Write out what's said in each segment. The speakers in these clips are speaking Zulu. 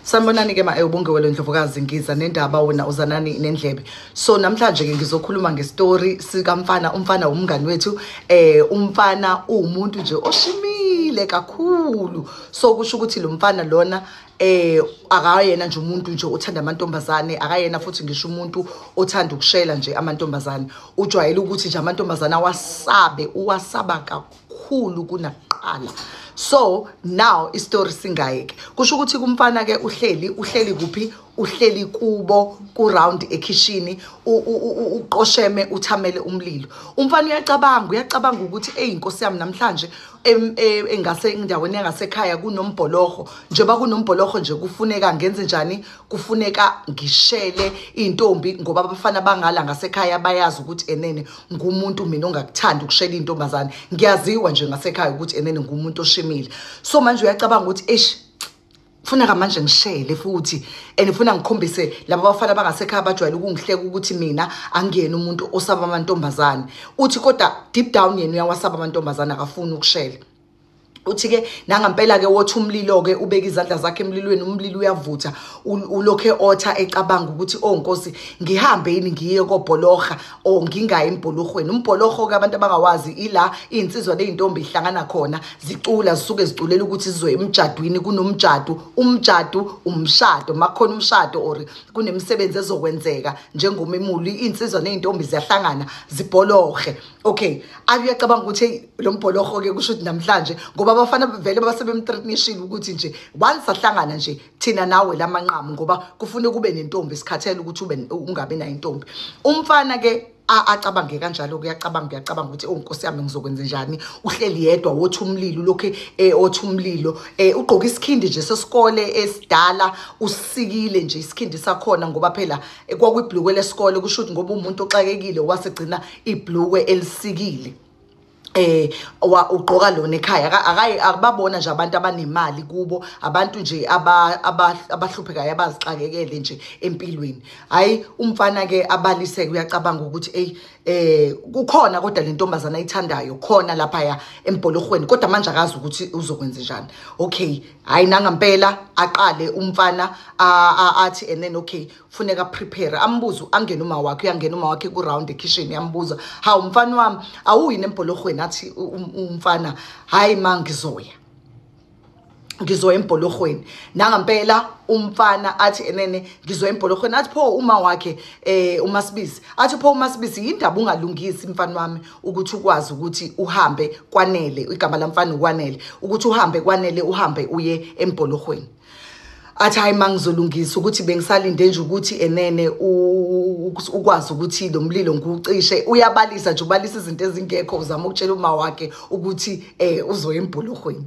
sanibonani-ke ma ewubongewelo ndlovukazi ngiza nendaba wona uzanani nendlebe so namhlanje-ke ngizokhuluma ngestori sikamfana umfana wumngani wethu um eh, umfana uwumuntu nje oshimile kakhulu so kusho ukuthi lo mfana lona eh akayena nje umuntu nje othanda amantombazane akayena futhi ngisho umuntu othanda ukushela nje amantombazane ujwayele ukuthi nje amantombazane awasabe uwasaba kakhulu kakhulu kunakuqala so now istory singayeke kusho ukuthi kumfana ke uhleli uhleli kuphi uhleli kubo kuround ekhishini uqosheme uthamele umlilo umfana uyacabanga uyacabanga ukuthi eyi inkosi yami namhlanje e, engase endaweni yangasekhaya kunombholoho njengoba kunombholoho nje kufuneka ngenze njani kufuneka ngishele iy'ntombi ngoba abafana bangala ngasekhaya bayazi ukuthi enene ngumuntu mina ongakuthanda ukushela intombazane ngiyaziwa nje ngasekhaya ukuthi enene ngumuntu oshimile so manje uyacabanga ukuthi eish funa kamanje ngishele futhi and ngifuna ngikhombise laba bafana abangasekhaya bajwayele ukungihleka ukuthi mina angiyena umuntu osaba amantombazane uthi kodwa deep down yena uyawasaba amantombazane akafuni ukushela uthi ke nangampela ke wothi umlilo ke ubeka izandla zakhe emlilweni umlilo uyavutha ulokhe otha ecabanga ukuthi oh nkosi ngihambe yini ngiye kobholoha o oh, ngingayi embholohweni umbholoho ke abantu abangawazi ila izinsizwa nezintombi ihlangana khona zicula zisuke ziculela ukuthi sizoya emjadwini kunomjadu umjadu umshado makhona umshado or kunemisebenzi ezokwenzeka njengomemuli izinsizwa nezintombi ziyahlangana zibholohe okay ayuyacabanga ukuthi lo mbholoho-ke kusho ukuthi namhlanje ngoba abafana vele basebemtreatnishile ukuthi nje once ahlangana nje thina nawe la manqamu ngoba kufune kube nentombi sikhathele ukuthi ube ungabi nayo intombi umfana-ke acabange kanjalo kuyacabanga kuyacabanga ukuthi oh nkosi yami ngizokwenza njani uhleli yedwa wothi umlilo lokhu eh othi umlilo eh ugqoka isikhindi nje sesikole esidala usikile nje isikhindi sakhona ngoba phela eh, kwakuyiblukwe lesikole kusho ukuthi ngoba umuntu oxakekile wasegcina iblukwe elisikile eh wa ugqoka lona ekhaya akayi akubabona nje abantu abanemali kubo abantu nje abahluphekayo abazixakekele nje empilweni hayi umfana ke abaliseke uyacabanga ukuthi ey eh kukhona kodwa le ntombazana ayithandayo khona lapha ya embholorhweni kodwa manje akazi ukuthi uzokwenza njani okay hayi nangampela aqale umfana athi and then okay funeka prepare ambuzo angena uma wakhe uyangena uma wakhe ku round ekitchen yambuza hawu mfana wami awuyi nembhologweni athi um, umfana hayi ma ngizoya ngizoya embhologweni nangampela umfana athi enene ngizoya embhologweni athi pho uma wakhe eh umasibisi athi pho umasibisi yindaba ungalungisi mfana wami ukuthi ukwazi ukuthi uhambe kwanele igama lamfana ukwanele ukuthi uhambe kwanele uhambe uye embhologweni athi hayi mangizolungisa ukuthi bengisalinde nje ukuthi enene ukwazi ukuthi lo mlilo ngiwucishe uyabalisa nje ubalisa izinto ezingekho uzama ukutshela uma wakhe ukuthi eh uzoya embhuluhweni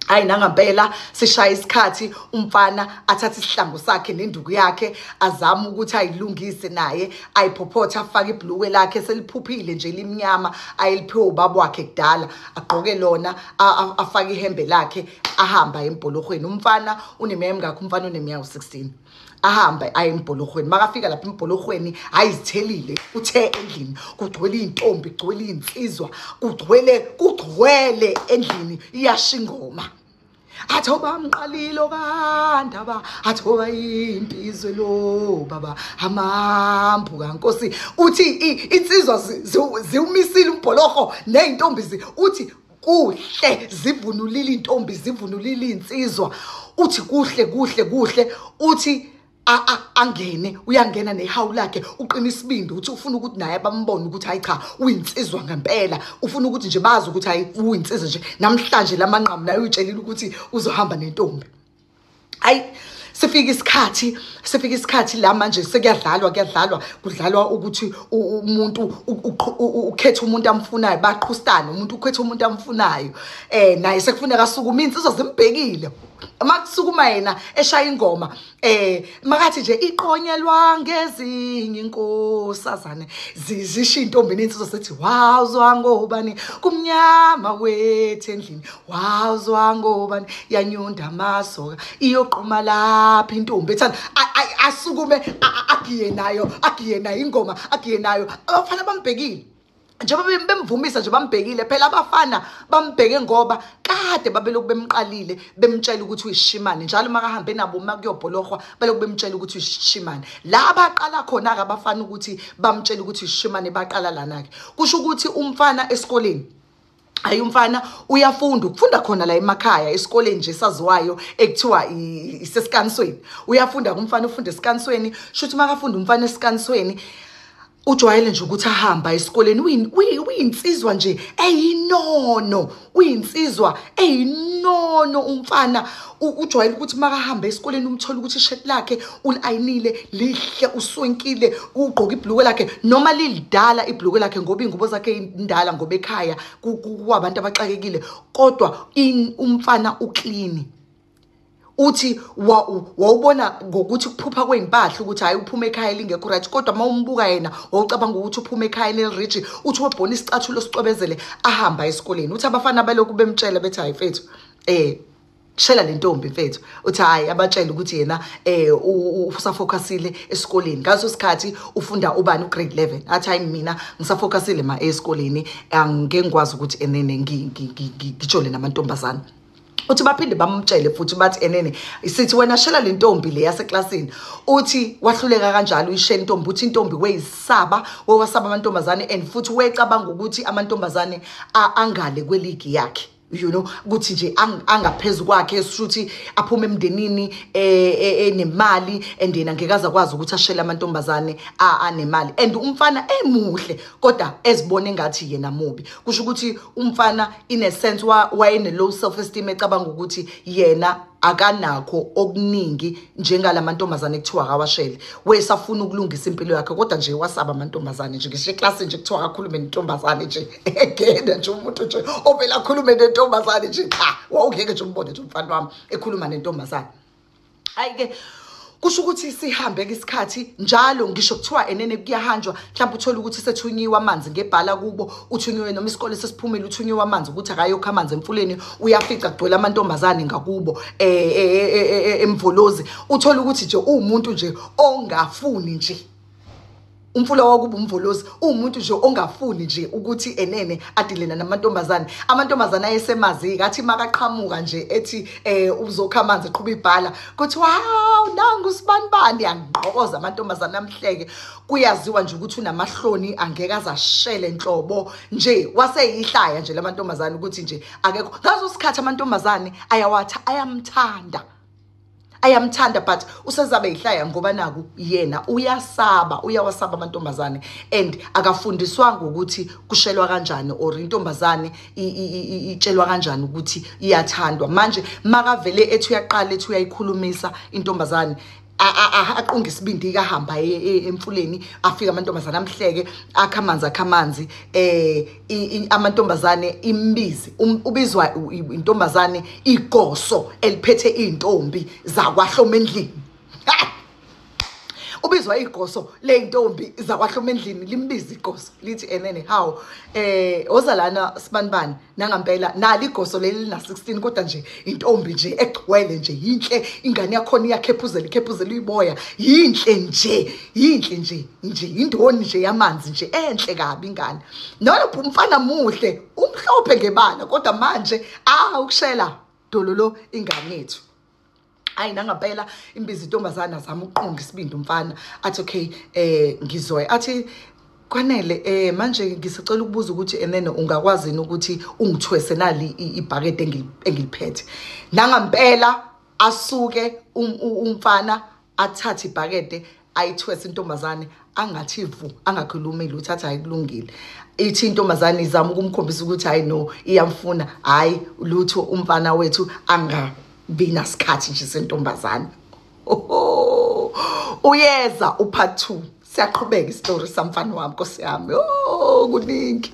hayi nangampela sishaya isikhathi umfana athathe isihlangu sakhe nenduku yakhe azame ukuthi ayilungise naye ayiphophotha afake ibhluwe lakhe seliphuphile nje limnyama ayeliphiwe ubaba wakhe kudala agqoke lona afake ihembe lakhe ahamba embholorhweni umfana uneminyaka emingakho umfana uneminyaka u-16 ahambe aye embholorhweni makafika lapha embholorhweni ayizithelile uthe endlini kugcwele iy'ntombi kugcwele iy'nsizwa kugcwele kugcwele endlini iyasha ingoma athi oba mqalile okandaba athi oba yimpi izwe lo baba amambu kankosi uthi insizwa ziwumisile umbholoho ney'ntombi uthi kuhle zivunulile intombi zivunulile insizwa uthi kuhle kuhle kuhle uthi angene uyangena nehawu lakhe uqina isibindi uthi ufuna ukuthi naye bambone ukuthi hayi cha uyinsizwa ngempela ufuna ukuthi nje bazi ukuthi hayi uyinsizwa nje namhlanje lamanqamu naye uyitshelile ukuthi uzohamba nentombi hayi sifika isikhathi sifika isikhathi la manje sekuyadlalwa kuyadlalwa kudlalwa ukuthi umuntu ukhetha umuntu amfunayo baqhustane umuntu ukhetha umuntu amfunayo eh naye sekufuneka asukuma insizwa zimbhekile uma kusukuma yena eshaya ingoma eh makathi nje iqonyelwa ngezinye inkosazane zizisho intombi nensizwa sethi wawuzwa ngobani kumnyama wethu endlini wawuzwa ngobani yanyunda amasoka iyoqhuma lapha intombi ethanda asukume agiye nayo agiye nayo ingoma agiye nayo abafana bambhekile njengoba bemvumisa nje bambhekile phela abafana bambheke ngoba kade babelokhu bemqalile bemtshela ukuthi uyishimane njalo uma kahambe nabo uma kuyobholorhwa belokhu bemtshela ukuthi uyishimane la baqala khona-ke abafana ukuthi bamtshele ukuthi uyishimane baqala lana-ke kusho ukuthi umfana esikoleni hayi umfana uyafunda ukufunda khona la emakhaya esikoleni nje saziwayo ekuthiwa isesikanisweni uyafunda kumfana ufunda esikanisweni shuthi makafunda umfana esikanisweni ujwayele nje ukuthi ahamba esikoleni uyinsizwa nje eyinono uyinsizwa eyinono umfana ujwayele ukuthi makahamba esikoleni umthole ukuthi ishirt lakhe ulayinile lihle uswenkile ugqoka ibhulukwe lakhe noma lilidala ibhulukwe lakhe ngoba iy'ngubo zakhe indala ngoba ekhaya kwabantu abaxakekile kodwa umfana uklini uthi wawubona ngokuthi kuphupha kwey'mpahla ukuthi hhayi uphuma ekhaya lingekho right kodwa uma umbuka yena wawucabanga ukuthi uphuma ekhaya eliriji uthi wabhona isicathulo sicwebezele ahamba esikoleni uthi abafana balokhu bemtshela bethi hhayi fethu um shela le ntombi mfethu uthi hhayi abatshele ukuthi yena eh, um usafocusile esikoleni ngaso sikhathi ufunda ubani ugrade 11 athi hhayi mina ngisafocusile ma esikoleni angike ngikwazi ukuthi enene ngijole namantombazane uthi baphinde bamtshele futhi bathi enene sithi wena shela le ntombi le yaseklasini uthi wahluleka kanjalo uyishela intombi uthi intombi weyisaba wewasaba amantombazane and futhi wecabanga ukuthi amantombazane angale kweligi yakhe you know ukuthi nje angaphezulu kwakhe shuthi aphume emndenini e, e, enemali and yena ngeke azakwazi ukuthi ashele amantombazane anemali and umfana emuhle kodwa ezibona engathi yena mubi kusho ukuthi umfana in a sense wayene low self esteem ecabanga ukuthi yena akanakho okuningi njengalamantombazane kuthiwa akawashele wesafuna ukulungisa impilo yakhe kodwa nje wasaba amantombazane nje ngisho eclassini nje kuthiwa akakhulume nentombazane nje egena nje umuntu nje ovele akhulume nentombazane nje cha wawungeke nje umbone nje umfana wami ekhuluma nentombazane hayi-ke kusho ukuthi sihambe ke isikhathi njalo ngisho kuthiwa enene kuyahanjwa mhlawumbe uthole ukuthi sethunyiwe amanzi ngebhala kubo uthunyiwe noma isikole sesiphumile uthunyiwe amanzi ukuthi akayokho amanzi emfuleni uyafica kugcwele amantombazane ngakubo um emvolozi uthole ukuthi nje uwumuntu nje ongafuni nje umfula wakuba umvolozi uwumuntu nje ongafuni nje ukuthi enene adilena namantombazane amantombazane ayesemazi kathi makaqhamuka nje ethi eh uzokha amanzi eqhuba ibhala kuthi wow nangu sibanibani angqokoza amantombazane amhleke kuyaziwa nje ukuthi unamahloni angeke azashele nhlobo nje waseyihlaya nje lamantombazane ukuthi nje akekho ngazo sikhathi amantombazane ayawatha ayamthanda ayamthanda but usezabe yihlaya ngoba naku yena uyasaba uyawasaba amantombazane and akafundiswanga ukuthi kushelwa kanjani or intombazane itshelwa kanjani ukuthi iyathandwa manje makavele ethi uyaqala ethi uyayikhulumisa intombazane aqunga isibindi ikahamba e, e, emfuleni afika amantombazana amhleke akha amanzi akha amanzi eh amantombazane imbizi um, ubizwa intombazane igoso eliphethe izintombi zakwahloma endlini ubizwa igoso leyintombi zakwahloma endlini limbiza igoso lithi enene how eh oza lana sibanibani nangampela nali igoso leli lina 16 kodwa nje intombi nje egcwele nje yinhle ingane yakhona iyakhephuzela ikhephuzela uyiboya yinhle nje yinhle nje nje indoni nje yamanzi nje enhle kabi ingane nalo umfana muhle umhlophe ngebala kodwa manje ah ukushela dololo ingane yethu hayi nangempela imbiza intombazane azama ukuqonda isibindi umfana athi okay eh ngizoya athi kwanele eh manje ngisacela ukubuza ukuthi enene ungakwazi ukuthi ungithwese nali ibhakede engiliphethe nangempela asuke um, umfana athathe ibhakede ayithwese intombazane angathi vu angakhulumi lutho athi ayikulungile ithi intombazane izama ukumkhombisa ukuthi hayi no iyamfuna hayi lutho umfana wethu angabi nasikhathi nje sentombazane uyeza upart 2 siyaqhubeka isitori samfana wami nkosi yami oh kuningi